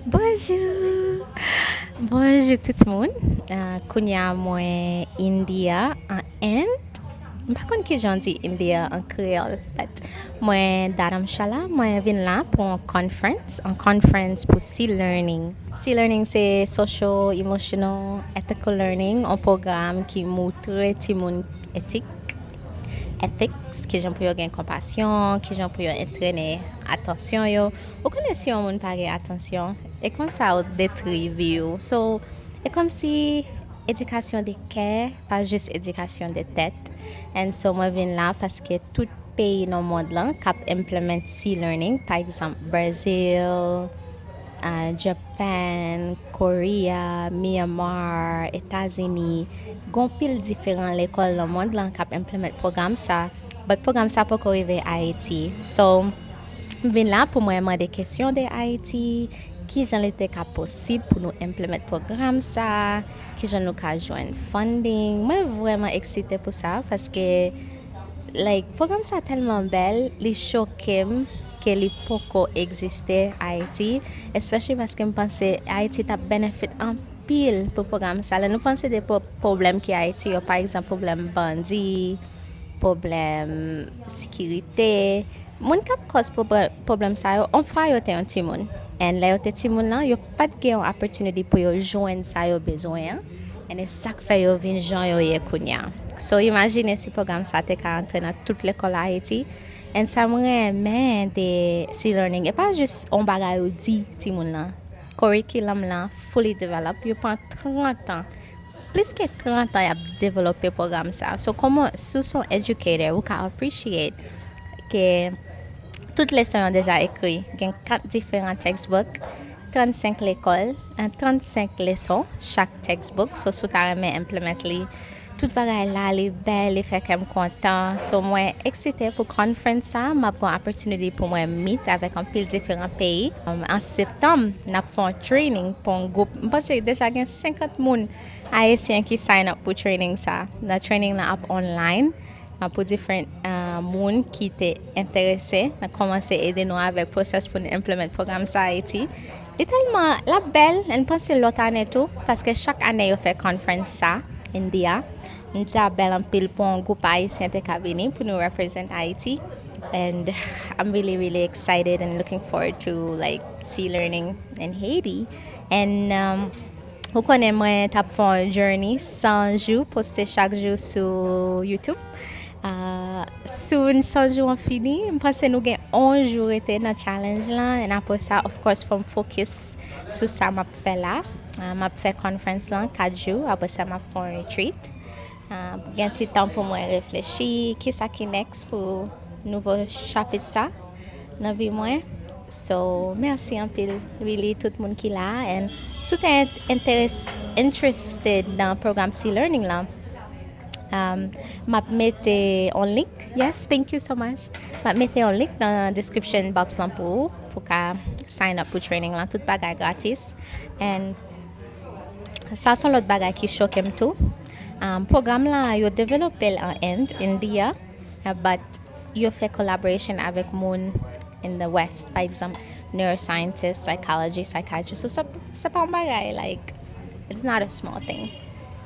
Bonjou Bonjou tout moun Kounye a mwen India an End M pa konn kijan w di India an kreyòl But mwen Dharamshala Mwen vin la pou yon conference Yon conference pou C-learning C-learning se Social, Emotional, Ethical Learning Yon pwogram ki moutre timoun etik Ethics Kijan pou yo gen konpasyon Kijan pou yo antrene atansyon yo Ou konnen si yon moun pa gen atansyon e konsa ou detri vi ou so e komsi edikasyon de kè pa jis edikasyon de tèt and so mwen vin la paske tout peyi nan mond lan kap implement si learning pa egzanp Brazil Japan Korea Myanmar Etazini gen yon pil diferan lekòl nan mond lan kap implement pwogram sa but pwogram sa poko rive Ayiti so. M vin la pou mwen mande kesyon de Ayiti, kijan li te ka posib pou nou implement pwogram sa, kijan nou ka jwenn funding. Mwen vrèman eksite pou sa paske like pwogram sa tèlman bèl, li choke m ke li poko egziste Ayiti, especially paske m panse Ayiti t ap benefit anpil pou pwogram sa. Lè nou panse de pwoblèm ki Ayiti yo, pa egzanp pwoblèm bandi, pwoblèm sikirite, moun k ap kòz pwoblèm sa yo on fwa yo te yon timoun and lè yo te timoun lan yo pa t gen yon opportunity pou yo jwenn sa yo bezwen an and e sa k fè yo vin jan yo ye kounye a so imajine si pwogram sa te ka antre nan tout lekòl Ayiti and sa m renmen de C-learning e pa jis on bagay ou di timoun lan Korikilam lan fully develop yo pran 30 an Plis ke 30 an yap develope program sa. So koman si w son educator ou ka appreciate ke tout leson yo deja ekri. Gen 4 diferan textbook, 35 lekol, 35 leson chak textbook. So si w ta renmen implement li, tout bagay la li bel, li fè kèm kontan. So mwen eksite pou conference sa, map gen opportunity pou mwen meet avèk anpil diferan peyi. An septanm nap fon. Training pou yon group, m panse deja gen 50 moun ayisyen ki sign up pou training sa. Nan training lan ap online, nan pou different uh, moun ki te enterese, nan komanse ede nou avèk process pou n implement program sa Haiti. Li telman, la bèl, n panse lòt ane tou, paske chak ane yo fè conference sa, India. Li ta bèl anpil pou yon group ayisyen te ka vini pou nou represent Haiti. And I'm really really excited and looking forward to like Sea Learning in Haiti and ou konnen mwen tap fè yon journey 100 jou poste chak jou sou YouTube. Sou 100 jou an fini, m panse nou gen 11 jou rete nan challenge la and apre sa of course fòm focus sou sa map fè la. Map fè conference lan 4 jou apre sa map fè yon retreat. Gen ti tan pou mwen reflechi ki sa ki next pou nouvo chapit sa nan vi mwen. So, merci anpil really tout moun ki la and si w te interested nan program C-Learning lan, um, m ap mete yon link, yes, thank you so much, m ap mete yon link nan description box lan pou ou pou ka sign up pou training lan, tout bagay gratis and. Sa son lòt bagay ki choke m tou. Pwogram la yo develope l an End, India, but yo fè collaboration avèk moun in the West. Pa egzanp, neuroscientist, psychology, psychiatrist. So se pa yon bagay like, it's not a small thing.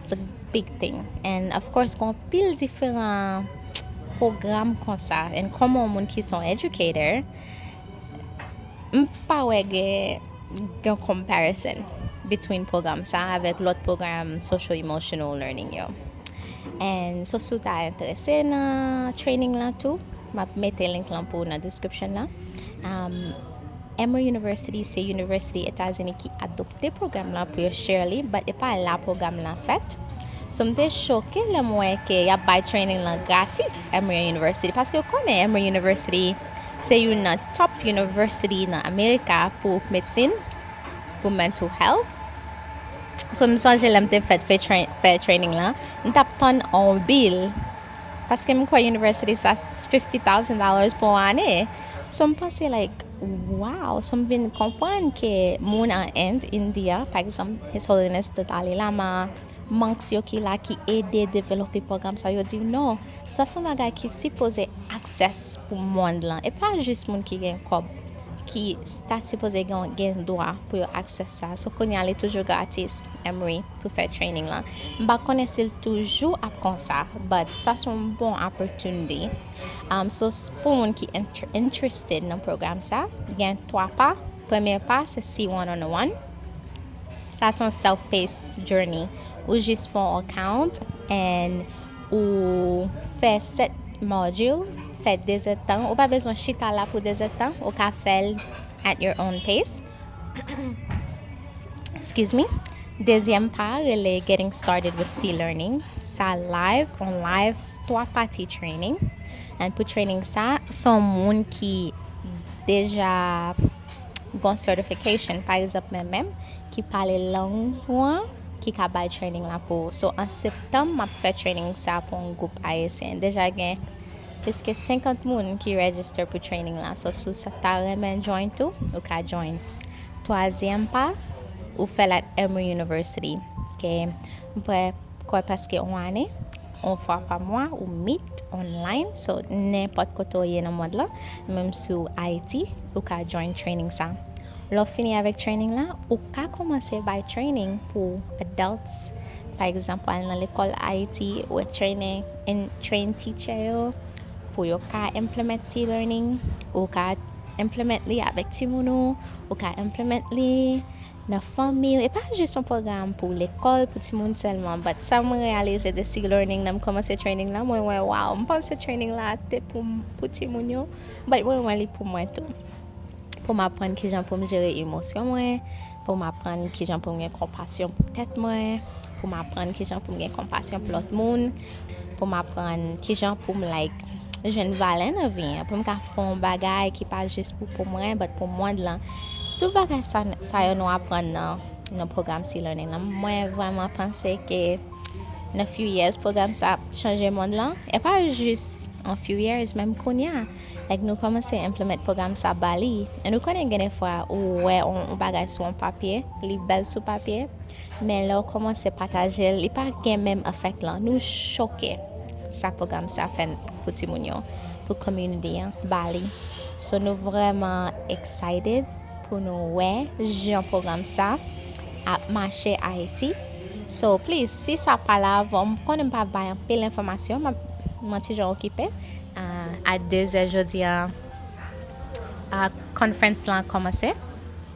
It's a big thing. And of course gen anpil diferan pwogram konsa. And kòm yon moun ki son educator, M pa wè gen yon comparison between pwogram sa a avèk lòt pwogram social emotional learning yo. And so si w ta enterese nan training lan tou, m ap mete link lan pou ou nan description lan. Um, Emory University se university Etazini ki adopte pwogram lan pou yo share li, but e pa la pwogram lan fèt. So m te choke lè m wè ke y ap bay training lan gratis Emory University, paske yo konnen Emory University Se youn nan top university nan America pou medsin, pou mental health. So m sonje lè m te fèt fè training lan, m t ap tann on bill paske m kwè university sa 50 thousand dollars pou on ane. So m panse like wow, so m vin konprann ke moun an End, India, pa egzanp His Holiness te t ale lama, Monks yo ki la ki ede develope pwogram sa yo di w non, sa son bagay ki sipoze access pou mond lan e pa jis moun ki gen kòb ki ta sipoze gen dwa pou yo access sa so kounye a li toujou gratis Emory pou fè training lan m pa konnen si l toujou ap konsa but sa son bon opportunity um, so pou moun ki interested nan pwogram sa gen 3 pa premye pa se si one on one Sa son self pace journey ou jis fon on account and ou fè 7 module fè 2 zèd tan ou pa bezwen chita la pou 2 zèd tan ou ka fèl at your own pace excuse me dezyèm pa rele getting started with C learning sa live on live 3 pati training and pou training sa son moun ki deja Gon certification pa egzanp men menm ki pale lang ou an ki ka bay training la pou ou. So an septanm map fè training sa pou yon gwoup ayisyen. Deja gen plis ke 50 moun ki register pou training la. So sou sa ta renmen join tou, ou ka join. Twazyèm pa, ou fèl at Emory University. Ke m prè Kòy paske on ane, on fwa pa mwa ou meet online so nenpòt kote ou ye nan mond lan, menm si w Ayiti ou ka join training sa. Lè w fini avèk training la, ou ka kòmanse bay training pou adults, pa egzanp wal nan lekòl Ayiti wè training and train teacher yo pou yo ka implement si learning, ou ka implement li avèk timoun ou, ou ka implement li. nan fanmiw e pa jis yon pwogram pou lekòl pou timoun sèlman but sa mwen reyalize de sig learning nan m kòmanse training lan mwen wè waww m panse training la te pou pou timoun yo but mwen wè li pou mwen tou poum aprann kijan poum jere emosyon mwen poum aprann kijan poum gen konpasyon pou tèt mwen poum aprann kijan poum gen konpasyon pou lòt moun poum aprann kijan poum like jwenn valè nan vi an, pou m ka fè yon bagay ki pa jis pou pou mwen, but pou mond lan. Tout bagay sa, sa yo nou aprann nan, nan pwogram Sea Learning lan. Mwen vreman panse ke nan few years pwogram sa ap chanje mond lan. E pa jis an few years, menm kounya. Like nou komanse implement pwogram sa Bali. E nou konnen gen de fwa ou wè yon bagay sou yon papye, li bèl sou papye, men lè ou komanse pataje l, li pa gen menm effect lan. Nou choke. Sa program sa fè pou ti moun yo, pou community an Bali. So nou vreman excited pou nou wè jan program sa ap mache Ayiti. So please si sa pa la avan, m konnen m pa bay anpil enfomasyon, m ap mwen ti jan okipe. A 2 zè jodi a conference lan komanse.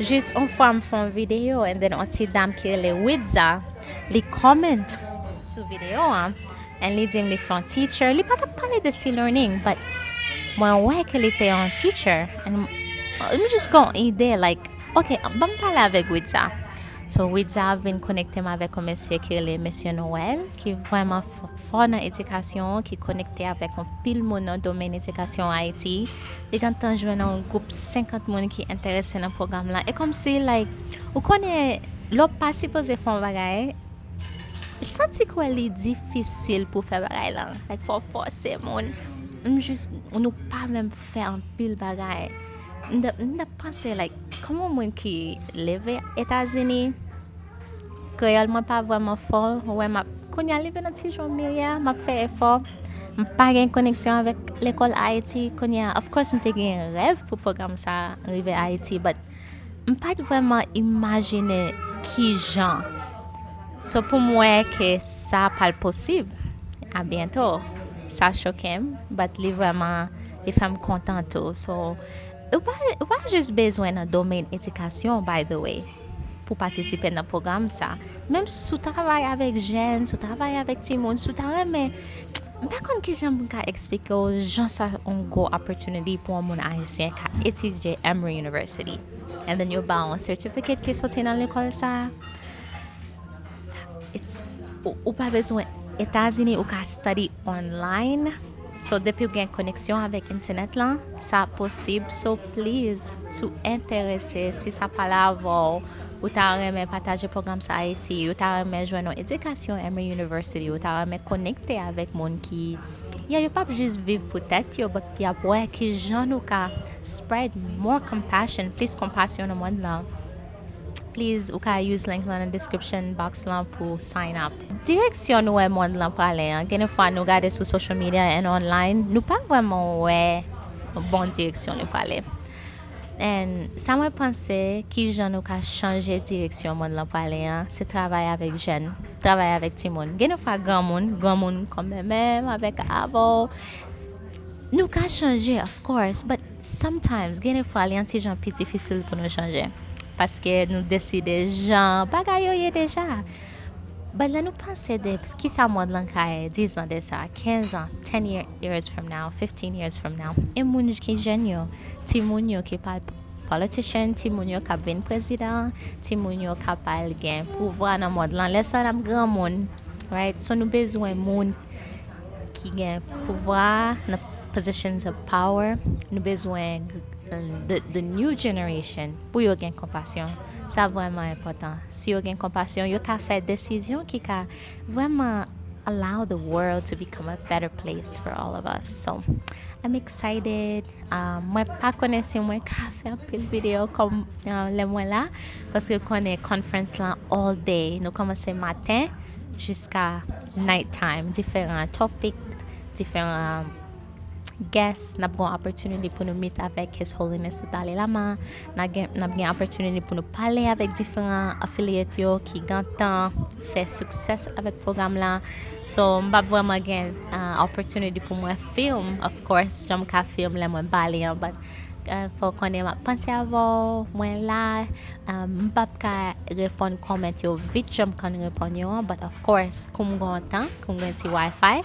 Jis on fwa m fè on video and then on ti dam ki rele Widza li comment sou video an and li di m li se on teacher li pa tap pale de C-learning but mwen wè ke li te on teacher and m jis gen on ide like ok banm pale avèk Widza so Widza vin konekte m avèk on mesye ki rele Mesye Noel ki vrèman fò nan edikasyon ki konekte avèk anpil moun nan domèn edikasyon Ayiti, li gentan jwenn yon gwoup 50 moun ki enterese nan pwogram lan. E kòm si, like, ou konnen, lè w pa sipoze fè yon bagay, santi kwè li difisil pou fè bagay lan. Like, fò w fòse moun. M jis, nou pa menm fè anpil bagay. M t ap panse, like, kòman moun ki leve Etazini. Kreyòl mwen pa vrèman fò, ou wè map kounye a leve nan ti jan meye a, map fè efò. M pa gen koneksyon avèk lekòl Ayiti kounye a. Of course m te gen rèv pou pwogram sa rive Ayiti but m pat vrèman imajine ki jan. So pou m wè ke sa pral posib a byento, sa choke m but li vrèman li fè m kontan tou. So ou pa jis bezwen nan domèn edikasyon by the way. pou patisipe nan pwogram sa menm si ou travay avèk jèn si ou travay avèk timoun si ou ta renmen m pa konn kijan m ka eksplike w jan sa on gwo opportunity pou on moun ayisyen ka etidye Emory University and then yo ba w on certificate ki soti nan lekòl sa it's ou pa bezwen etazini ou ka study online So depiw gen koneksyon avèk entènèt lan sa ap posib so please si w entèrese si sa pale avèw ou ta renmen pataje pwogram sa Ayiti ou ta renmen jwenn yon edikasyon Emory University ou ta renmen konekte avèk moun ki yeah yo pap jis viv pou tèt yo but yap wè kijan nou ka spread more compassion plis konpasyon nan mond lan please ou ka use link lan nan description box lan pou sign up. Direksyon nou wè mond lan prale an, gen de fwa nou gade sou social media and online, nou pa vrèman wè bon direksyon li prale. And sa mwen panse ki jan nou ka chanje direksyon mond lan prale an, se travay avèk jèn, travay avèk timoun. Gen de fwa granmoun, granmoun kòm mwen menm avèk avè'w, nou ka chanje of course, but sometimes gen de fwa li yon ti jan pi difisil pou nou chanje. Paske nou deside jan bagay yo ye deja. But lè nou panse de kisa mond lan ka ye 10 zan de sa, 15 an, 10 years from now, 15 years from now, e moun ki jèn yo, ti moun yo ki pral politician, ti moun yo kap vin prezidan, ti moun yo kap al gen pouvwa nan mond lan, lè sa nap gran moun, right? So nou bezwen moun ki gen pouvwa nan positions of power, nou bezwen the new generation pou yo gen konpasyon. Sa vrèman enpòtan. Si yo gen konpasyon, yo ka fè desizyon ki ka vrèman allow the world to become a better place for all of us. So, I'm excited. Uh, mwen pa konnen si mwen ka fè anpil video kom uh, lè mwen la, paske konnen conference lan all day. Nou komanse maten jiska night time. Diferan topic, diferan guest, nap gon opportunity pou nou meet avèk His Holiness the Dalai Lama, N ap gen opportunity pou nou pale avèk diferan affiliate yo ki gentan fè success avèk pwogram la. So, m pap vreman gen opportunity pou mwen film, of course, jan m ka film lè mwen pale an, but fè w konnen m ap panse avè w, mwen la. M pap ka reponn comment yo vit jan m konn reponn yo an, but of course, kou m gen yon tan, kou m gen yon ti WiFi,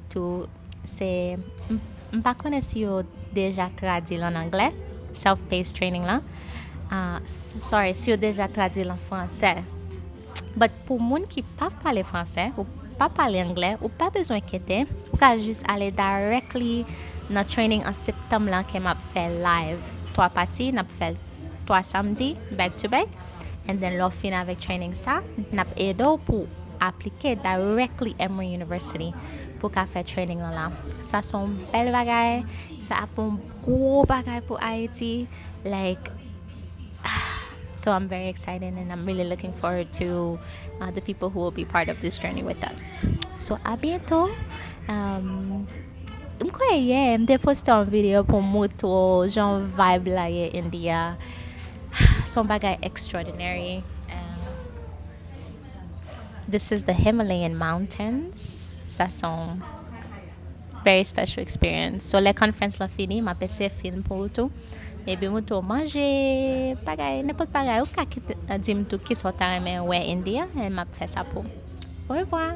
Tou, se, m pa konnen si yo deja tradui l an anglè, self-paced training lan. Sorry, si yo deja tradui l an fransè. But pou moun ki pa pale fransè, ou pa pale anglè, ou pa bezwen kete, ou ka jis ale directly nan training an septanm lan ke m ap fè live. 3 pati, n ap fè l 3 samdi, back to back. and then lè w fin avèk training sa n ap ede w pou aplike directly Emory University pou ka fè training lan la sa se yon bèl bagay sa ap yon gwo bagay pou Ayiti like So I'm very excited and I'm really looking forward to uh, the people who will be part of this journey with us. So a bientôt. Um, m kwè yè, m te poste yon video pou moutro jan vibe la ye India. Se yon bagay extraordinary and this is the Himalayan mountains sa se yon very special experience so lè conference la fini m ap eseye fè film pou ou tou epi m tou manje bagay nenpòt bagay ou ka di m tou kisa ou ta renmen wè India e m ap fè sa pou ou orevwa.